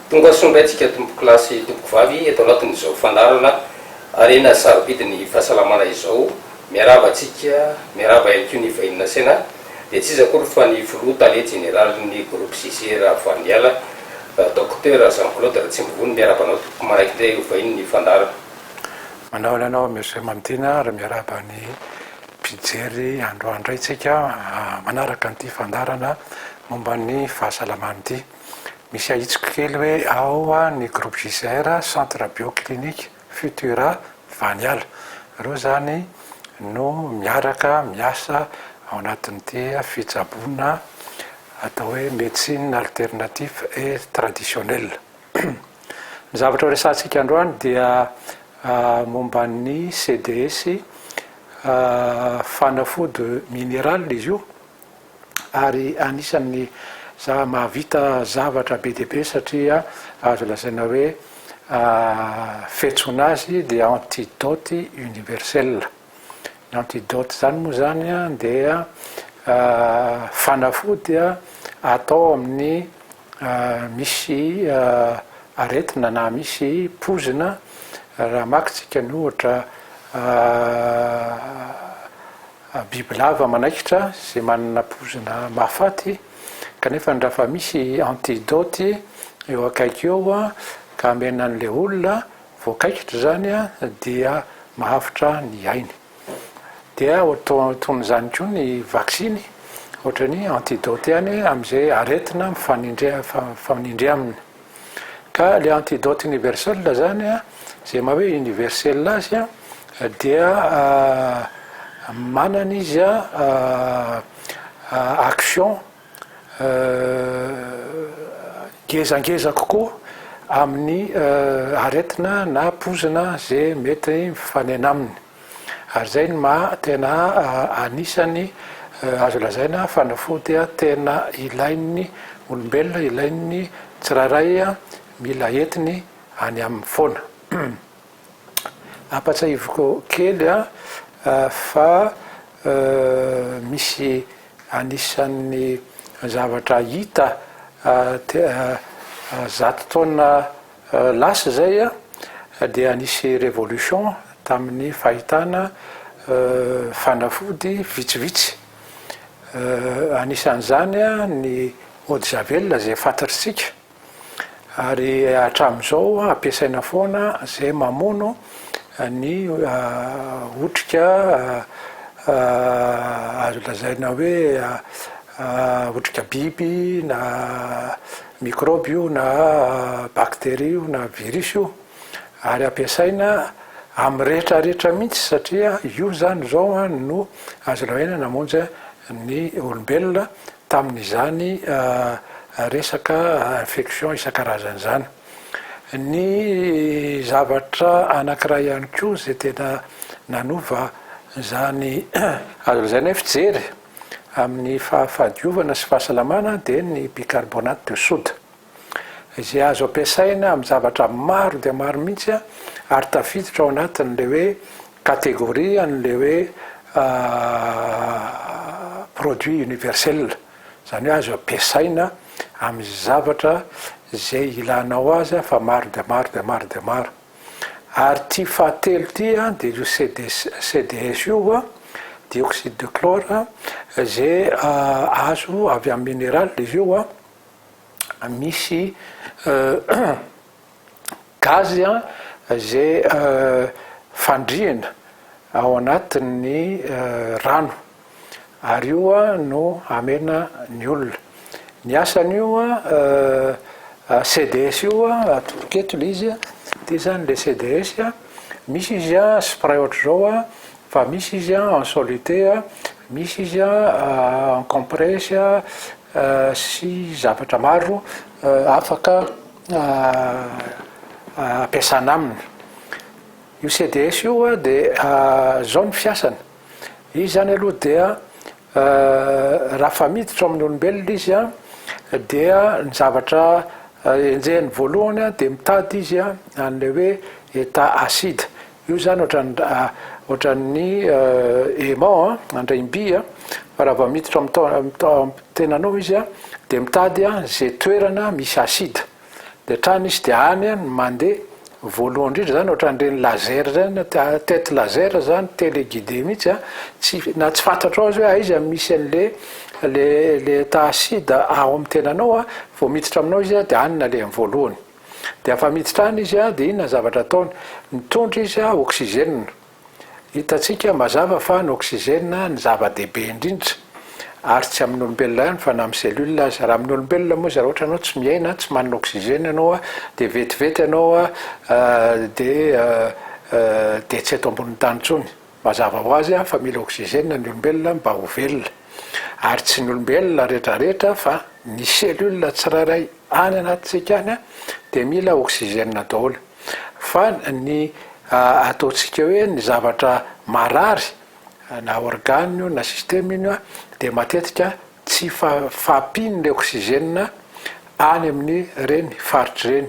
Tonga soa indray tsika tompoko lahy sy tompoko vavy eto anatin'izao fandaharana harena sarobidy ny fahasalamana izao. Miarahaba antsika, miarahaba ihany koa ny vahiny nasaina, dia tsy iza akory fa ny filoha tale jeneralin'ny groupe Jugé Ravalomanana, Docteur Jean Claude Ratsimbovony. Miarahaba anao tompoko manaiky indray ho vahiny ny fandaharana. Manao ananao Monsieur Mamitiana ary miarahaba ny. Mpijery androany indray tsika manaraka an'ity fandaharana momba ny fahasalamana ity. Misy ahitsiko kely hoe ao ny groupe JCR, centre bio clinique Futura Vaniala. Ireo izany no miaraka miasa ao anatin'ity fitsaboana atao hoe médecine alternatif et traditionnel. Ny zavatra horesahantsika androany dia momba ny CDS, fanafody minéral izy io, ary anisan'ny mahavita zavatra be dia be satria azo lazaina hoe fiantsoana azy dia antidote universel. Ny antidote izany moa izany dia fanafody atao amin'ny misy aretina na misy poizina raha maka tsika ny ohatra bibilava manaikitra zay manana poizina mahafaty kanefa ny raha fa misy antidote eo akaiky eo a ka amena an'le olona voakaikitra zany a dia mahavitra ny ainy. Dia ohatr toy izany koa ny vaksiny, ohatra ny antidote ihany amin'izay aretina mifanindry mifanindry aminy. Ka le antidote universel zany a, zay maha hoe universel azy a, dia manana izy a action. ngezangeza kokoa amin'ny aretina na poizina ze mety mifanena aminy ary zay no maha tena anisany azo lazaina fanafody tena ilain'ny olombelona ilain'ny tsirairay mila entiny any aminy foana. Ampatsahiviko kely fa misy anisan'ny zavatra hita zato taona lasa izay dia nisy révolution tamin'ny fahitana fanafody vitsivitsy. Anisan'izany ny eau de javel izay fantatr'isika. ary hatramin'izao ampiasaina foana izay mamono ny otrika azo lazaina hoe otrika biby na mikrôby io na bakteria io na virisy io ary ampiasaina amin'ny rehetra rehetra mihitsy satria io izany izao no azo lazaina namonjy ny olombelona tamin'izany resaka infection isan-karazany izany. Ny zavatra anankiray ihany koa izay tena nanova izany azo lazaina hoe fijery amin'ny fahafahadiovana sy fahasalamana dia ny bicarbonate de soude. izay azo ampiasaina amin'ny zavatra maro dia maro mihitsy ary tafiditra ao anatin'ilay hoe catégorie an'ilay hoe produit universel, izany hoe azo ampiasaina amin'ny zavatra izay ilanao azy fa maro dia maro dia maro dia maro. Ary ity fahatelo ity dia io CDS io, dioxyde de chlore, izay azo avy amin'ny mineraly izy io, misy gazy izay fandriana ao anatin'ny rano ary io no hamena ny olona. Ny asan'io CDS io atodika eto ilay izy, ity izany ilay CDS, misy izy spray ohatr'izao. Fa misy izy an en solute a, misy izy an en compresse a, sy zavatra maro afaka ampiasana aminy. Io CDS io a de zao ny fiasany, izy zany aloha dia raha fa miditra ao amin'ny olombelona izy a dia ny zavatra enjehiny voalohany a de mitady izy a an'ilay hoe état acide, Io izany ohatran'ny aimant an, andraim-by an, fa raha vao miditra amin'ny tenanao izy an, dia mitady an izay toerana misy acide, dia hatrany izy dia any no mandeha, voalohany indrindra izany ohatran'ireny laser ireny, tête laser izany, téléguidé mihitsy an, tsy na tsy fantatrao aza hoe aiza no misy an'ilay ilay état acide ao amin'ny tenanao an, vao miditra aminao izy an dia any no alehany voalohany. Dia afa mitsitrana izy a, dia inona ny zavatra ataony? Mitondra izy a oxygène. Hitantsika mazava fa ny oxygène ny zava-dehibe indrindra. Ary tsy amin'ny olombelona ihany fa na amin'ny cellule aza. Raha amin'ny olombelona moa izy raha ohatra ianao tsy miaina, tsy manana oxygène ianao a, dia vetivety ianao a dia dia tsy eto ambonin'ny tany intsony. Mazava ho azy fa mila oxygène ny olombelona mba ho velona. Ary tsy ny olombelona retraretra fa ny cellule tsirairay any anatintsika any dia mila oxygène daholo. Fa ny ataontsika hoe ny zavatra marary na organe io na système io dia matetika tsy fahampian'ilay oxygène any amin'ireny faritra ireny.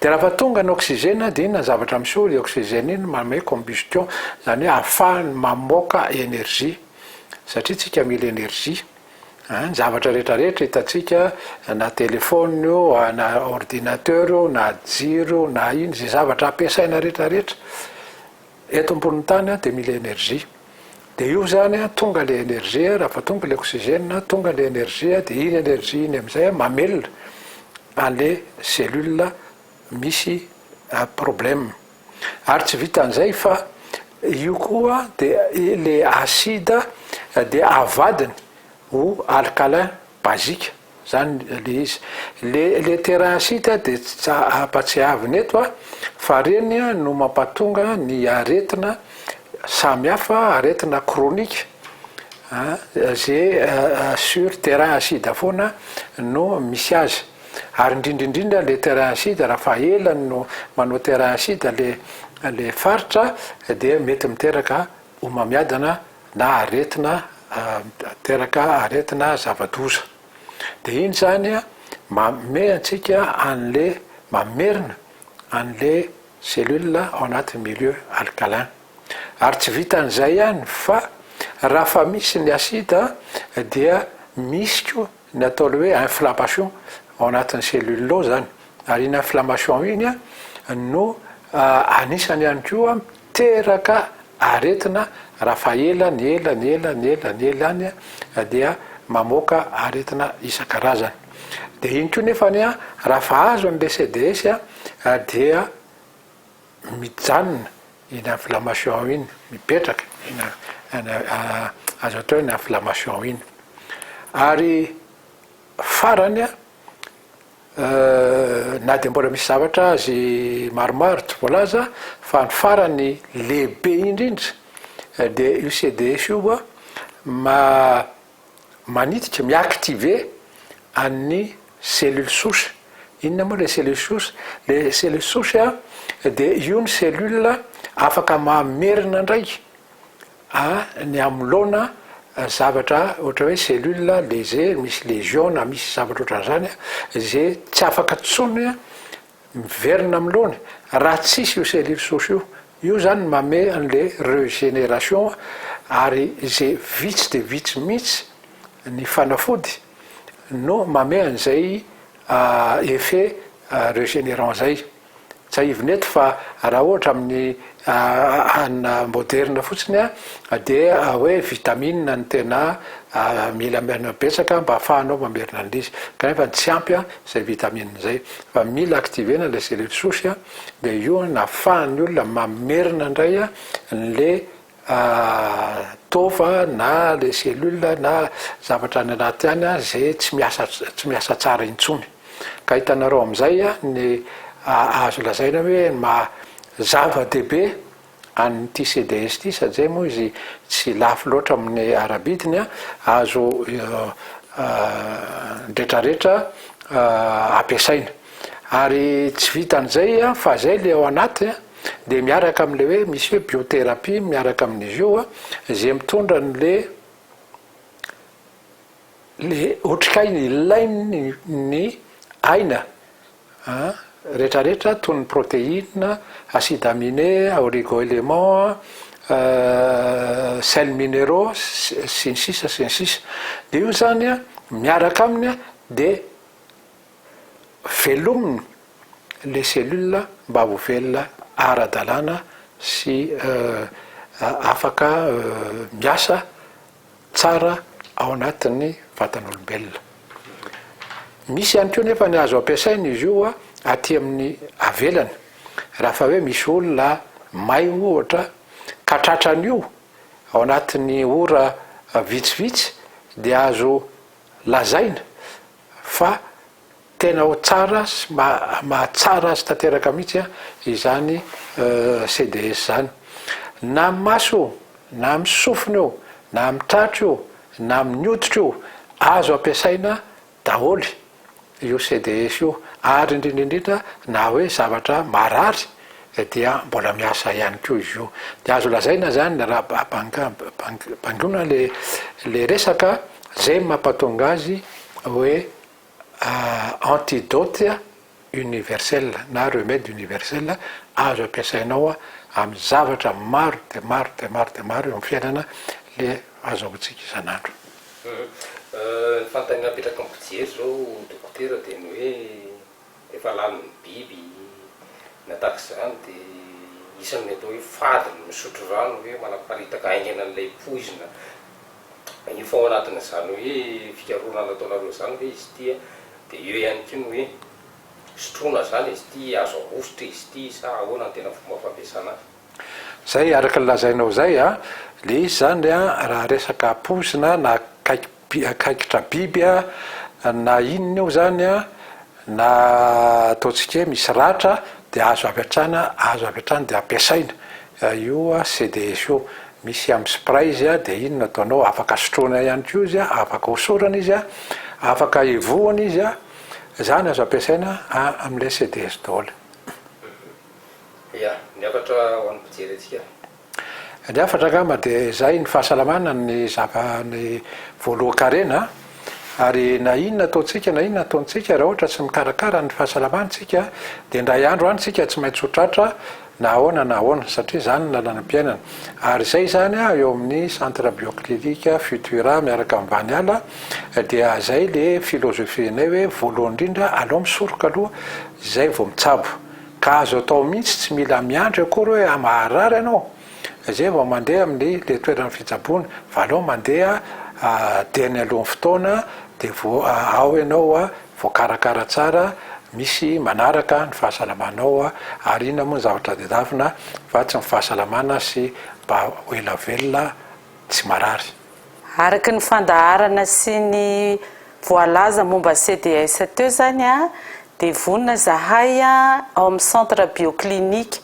Dia raha fa tonga ny oxygène dia inona ny zavatra miseho, io oxygène io no manome combustion, izany hoe ahafahany mamoaka énergie, satria tsika mila énergie, a ny zavatra rehetra rehetra hitantsika na téléphone io na ordinateur io na jiro io na ino, izay zavatra ampiasaina rehetra rehetra, Eto ambonin'ny tany dia mila énergie. Dia io zany tonga le énergie, raha vao tonga le oxygène, tonga le énergie, dia iny énergie iny amin'izay mamelona an'le cellule misy problème. Ary tsy vitan'izay fa io koa dia le acide dia avadiny ho alcalin basique. Zany le izy. Le le terrain site de tsy ampatsiahavina eto fa reny no mampatonga ny aretina samy hafa aretina chronique an ze sur terrain site foana no misy azy ary indrindra indrindra le terrain site raha fa ela no manao terrain site le le faritra dia mety miteraka homamiadana na aretina miteraka aretina zava-doza dia iny izany manome antsika an'le mamerina an'le cellule ao anatin'ny milieu alcalin ary tsy vitan'izay ihany fa raha fa misy ny acide dia misy koa Ny atao le hoe inflammation ao anatin'ny cellule ao zany, ary iny inflammation iny no anisany ihany koa miteraka aretina raha fa ela ny ela ny ela ny ela ny ela any dia mamoaka aretina isan-karazany. Dia iny koa nefany raha fa azony le CDS dia. mijanona iny inflammation iny, mipetraka iny azo atao hoe ny inflammation iny. Ary farany na dia mbola misy zavatra azy maromaro tsy voalaza fa ny farany lehibe indrindra dia io CDS io manititra, mi-activer an'ny cellule souche. Inona moa ilay cellule souche? Ilay cellule souche dia io ny cellule afaka mamerina indray ny anoloana zavatra ohatra hoe cellule léger, misy lésion na misy zavatra ohatran'izany izay tsy afaka intsony miverina am lony raha tsisy io cellules souches io, io zany no mame an le regénération ary ze vitsy de vitsy mitsy ny fanafody no mame an zay effet regénérant zay, tsahivina eto fa raha ohatra amin ny. Hanina moderina fotsiny an, dia hoe vitamine no tena mila betsaka mba afahanao mamerina an'ilay izy, kanefa tsy ampy an izay vitamine izay, fa mila activer-na ilay cellules souches an, dia io an afahan'ny olona mamerina indray an ilay taova na ilay cellules na zavatra any anaty any izay tsy miasa tsy miasa tsara intsony. Ka hitanareo amin'izay ny azo lazaina hoe maha zava-dehibe an'ity CDS ity satria moa izy tsy lafo loatra amin'ny ara-bidiny, azo ny rehetra rehetra ampiasaina. Ary tsy vitan'izay fa zay le ao anaty dia miaraka amin'ilay hoe misy hoe biothérapie miaraka amin'izy io izay mitondra an'le ny otrikaina ilainy ny aina rehetrarehetra toy ny protéine, acide aminé, oligo-éléments, sels minéraux, sy ny sisa sy ny sisa dia io izany an miaraka aminy dia velominy ilay cellule mba ho velona ara-dalàna sy afaka miasa tsara ao anatin'ny vatan'olombelona. Misy ihany koa nefa ny azo ampiasaina izy io aty amin'ny avelany rafa hoe misy olona may ohatra ka tratran'io ao anatin'ny ora vitsivitsy dia azo lazaina fa Tena ho tsara sy mahatsara azy tanteraka mihitsy izany CDS izany. Na amin'ny maso io, na amin'ny sofina io, na amin'ny tratro io, na amin'ny hoditra io, azo ampiasaina daholo io CDS io, ary indrindra indrindra na hoe zavatra marary dia mbola miasa ihany koa izy io. Dia azo lazaina izany raha bangoina ilay resaka, izay no mampatonga azy hoe antidote universel na remède universel azo ampiasainao amin'ny zavatra maro dia maro dia maro dia maro eo amin'ny fiainana le azahoantsika isan'andro. Ny fanontaniana apetrako amin'ny fijery zao dokotera dia ny hoe rehefa lany ny biby na tahaka izany dia isan'ny atao hoe fady ny misotro rano hoe manaparitaka haingana an'ilay poizina Efa ao anatin'izany hoe fikarohana nataonareo izany ve izy ity an? Dia eo ihany koa ny hoe sotroina izany izy ity, azo ahosotra izy ity sa ahoana ny tena fomba fampiasana azy? Izay araka ny lazainao izay an, dia izy izany an raha resaka poizina na kaikitra biby an na inona eo izany an, Na ataontsika hoe misy ratra dia azo avy hatrany azo avy hatrany dia ampiasaina io CDS io, misy amin'ny spray izy dia iny no ataonao afaka sotroina ihany koa izy afaka hosorana izy afaka hivohona izy izany azo ampiasaina amin'ilay CDS daholo. Ia, ny hafatra ho an'ny mpijery antsika. Ny hafatra angamba dia izay ny fahasalamana ny zava ny voalohan-karena a! ary na inona ataontsika na inona ataontsika raha ohatra tsy mikarakara ny fahasalamana isika dia indray andro any isika tsy maintsy ho tratra na ahoana na ahoana satria izany ny lalanam-piainana ary izay izany a eo amin'ny centre bioclinic futura miaraka amin'ny vaniala dia izay le philosophie-nay hoe voalohany indrindra alao misoroka aloha izay vao mitsabo Ka azo atao mihitsy tsy mila miandry akory hoe ah maharary ianao zay vao mandeha amin'ny le toeran'ny fitsaboana fa aleo mandeha dieny alohan'ny fotoana de vo ao ianao voakarakara tsara misy manaraka ny fahasalamanao ary inona moa ny zavatra tadiavina fa tsy ny fahasalamana sy mba ho ela velona tsy marary. Araka ny fandaharana sy ny voalaza momba CDS teo izany dia vonona izahay ao amin'ny Centre Bioclinique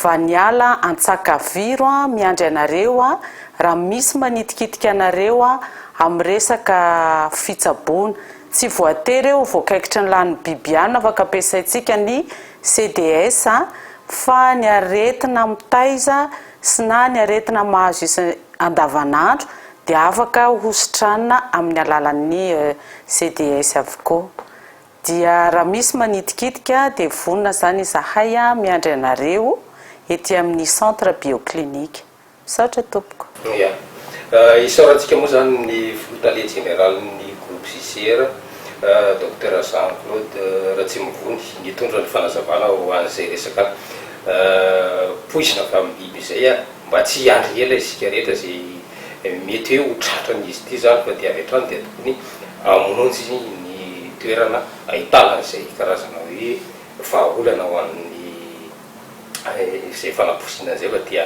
Vaniala Antsakaviro miandry anareo raha misy manitikitika anareo amin'ny resaka fitsaboana. Tsy voatery ho voakaikitry ny lanin'ny biby ihany no afaka ampiasaintsika ny CDS fa ny aretina mitaiza sy na ny aretina mahazo isa andavanandro dia afaka hositranina amin'ny alalan'ny CDS avokoa. Dia raha misy manitikitika dia vonona izany izahay miandry anareo ety amin'ny Centre Bioclinique. Misaotra tompoko. Ia. Isaorantsika moa izany ny Filoha Tale Jeneralin'ny Groupe JCR, Docteur Jean Claude Ratsimovony, nitondra ny fanazavana ho an'izay resaka. Poizina avy amin'ny biby izay a! Mba tsy hiandry ela isika rehetra izay mety hoe ho tratran'izy ity izany fa dia avy hatrany dia tokony hamonjy ny toerana ahitana an'izay karazana hoe vahaolana ho an'ny izay fanaposiana izay fa dia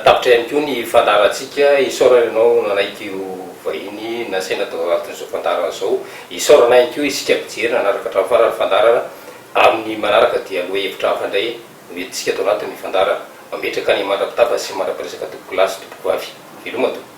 tapitra ihany koa ny fandaharantsika. Isaorana ianao nanaiky ho vahiny nasaina tao anatin'izao fandaharana izao. Isaorana ihany koa isika mpijery nanaraka hatramin'ny farany ny fandaharana Amin' ny manaraka dia lohahevitra hafa indray no entintsika ato anatin' ny fandaharana. Mametraka ny mandra-pitafa sy mandra-piresaka tompoko lahy sy tompoko vavy. Veloma tompoko.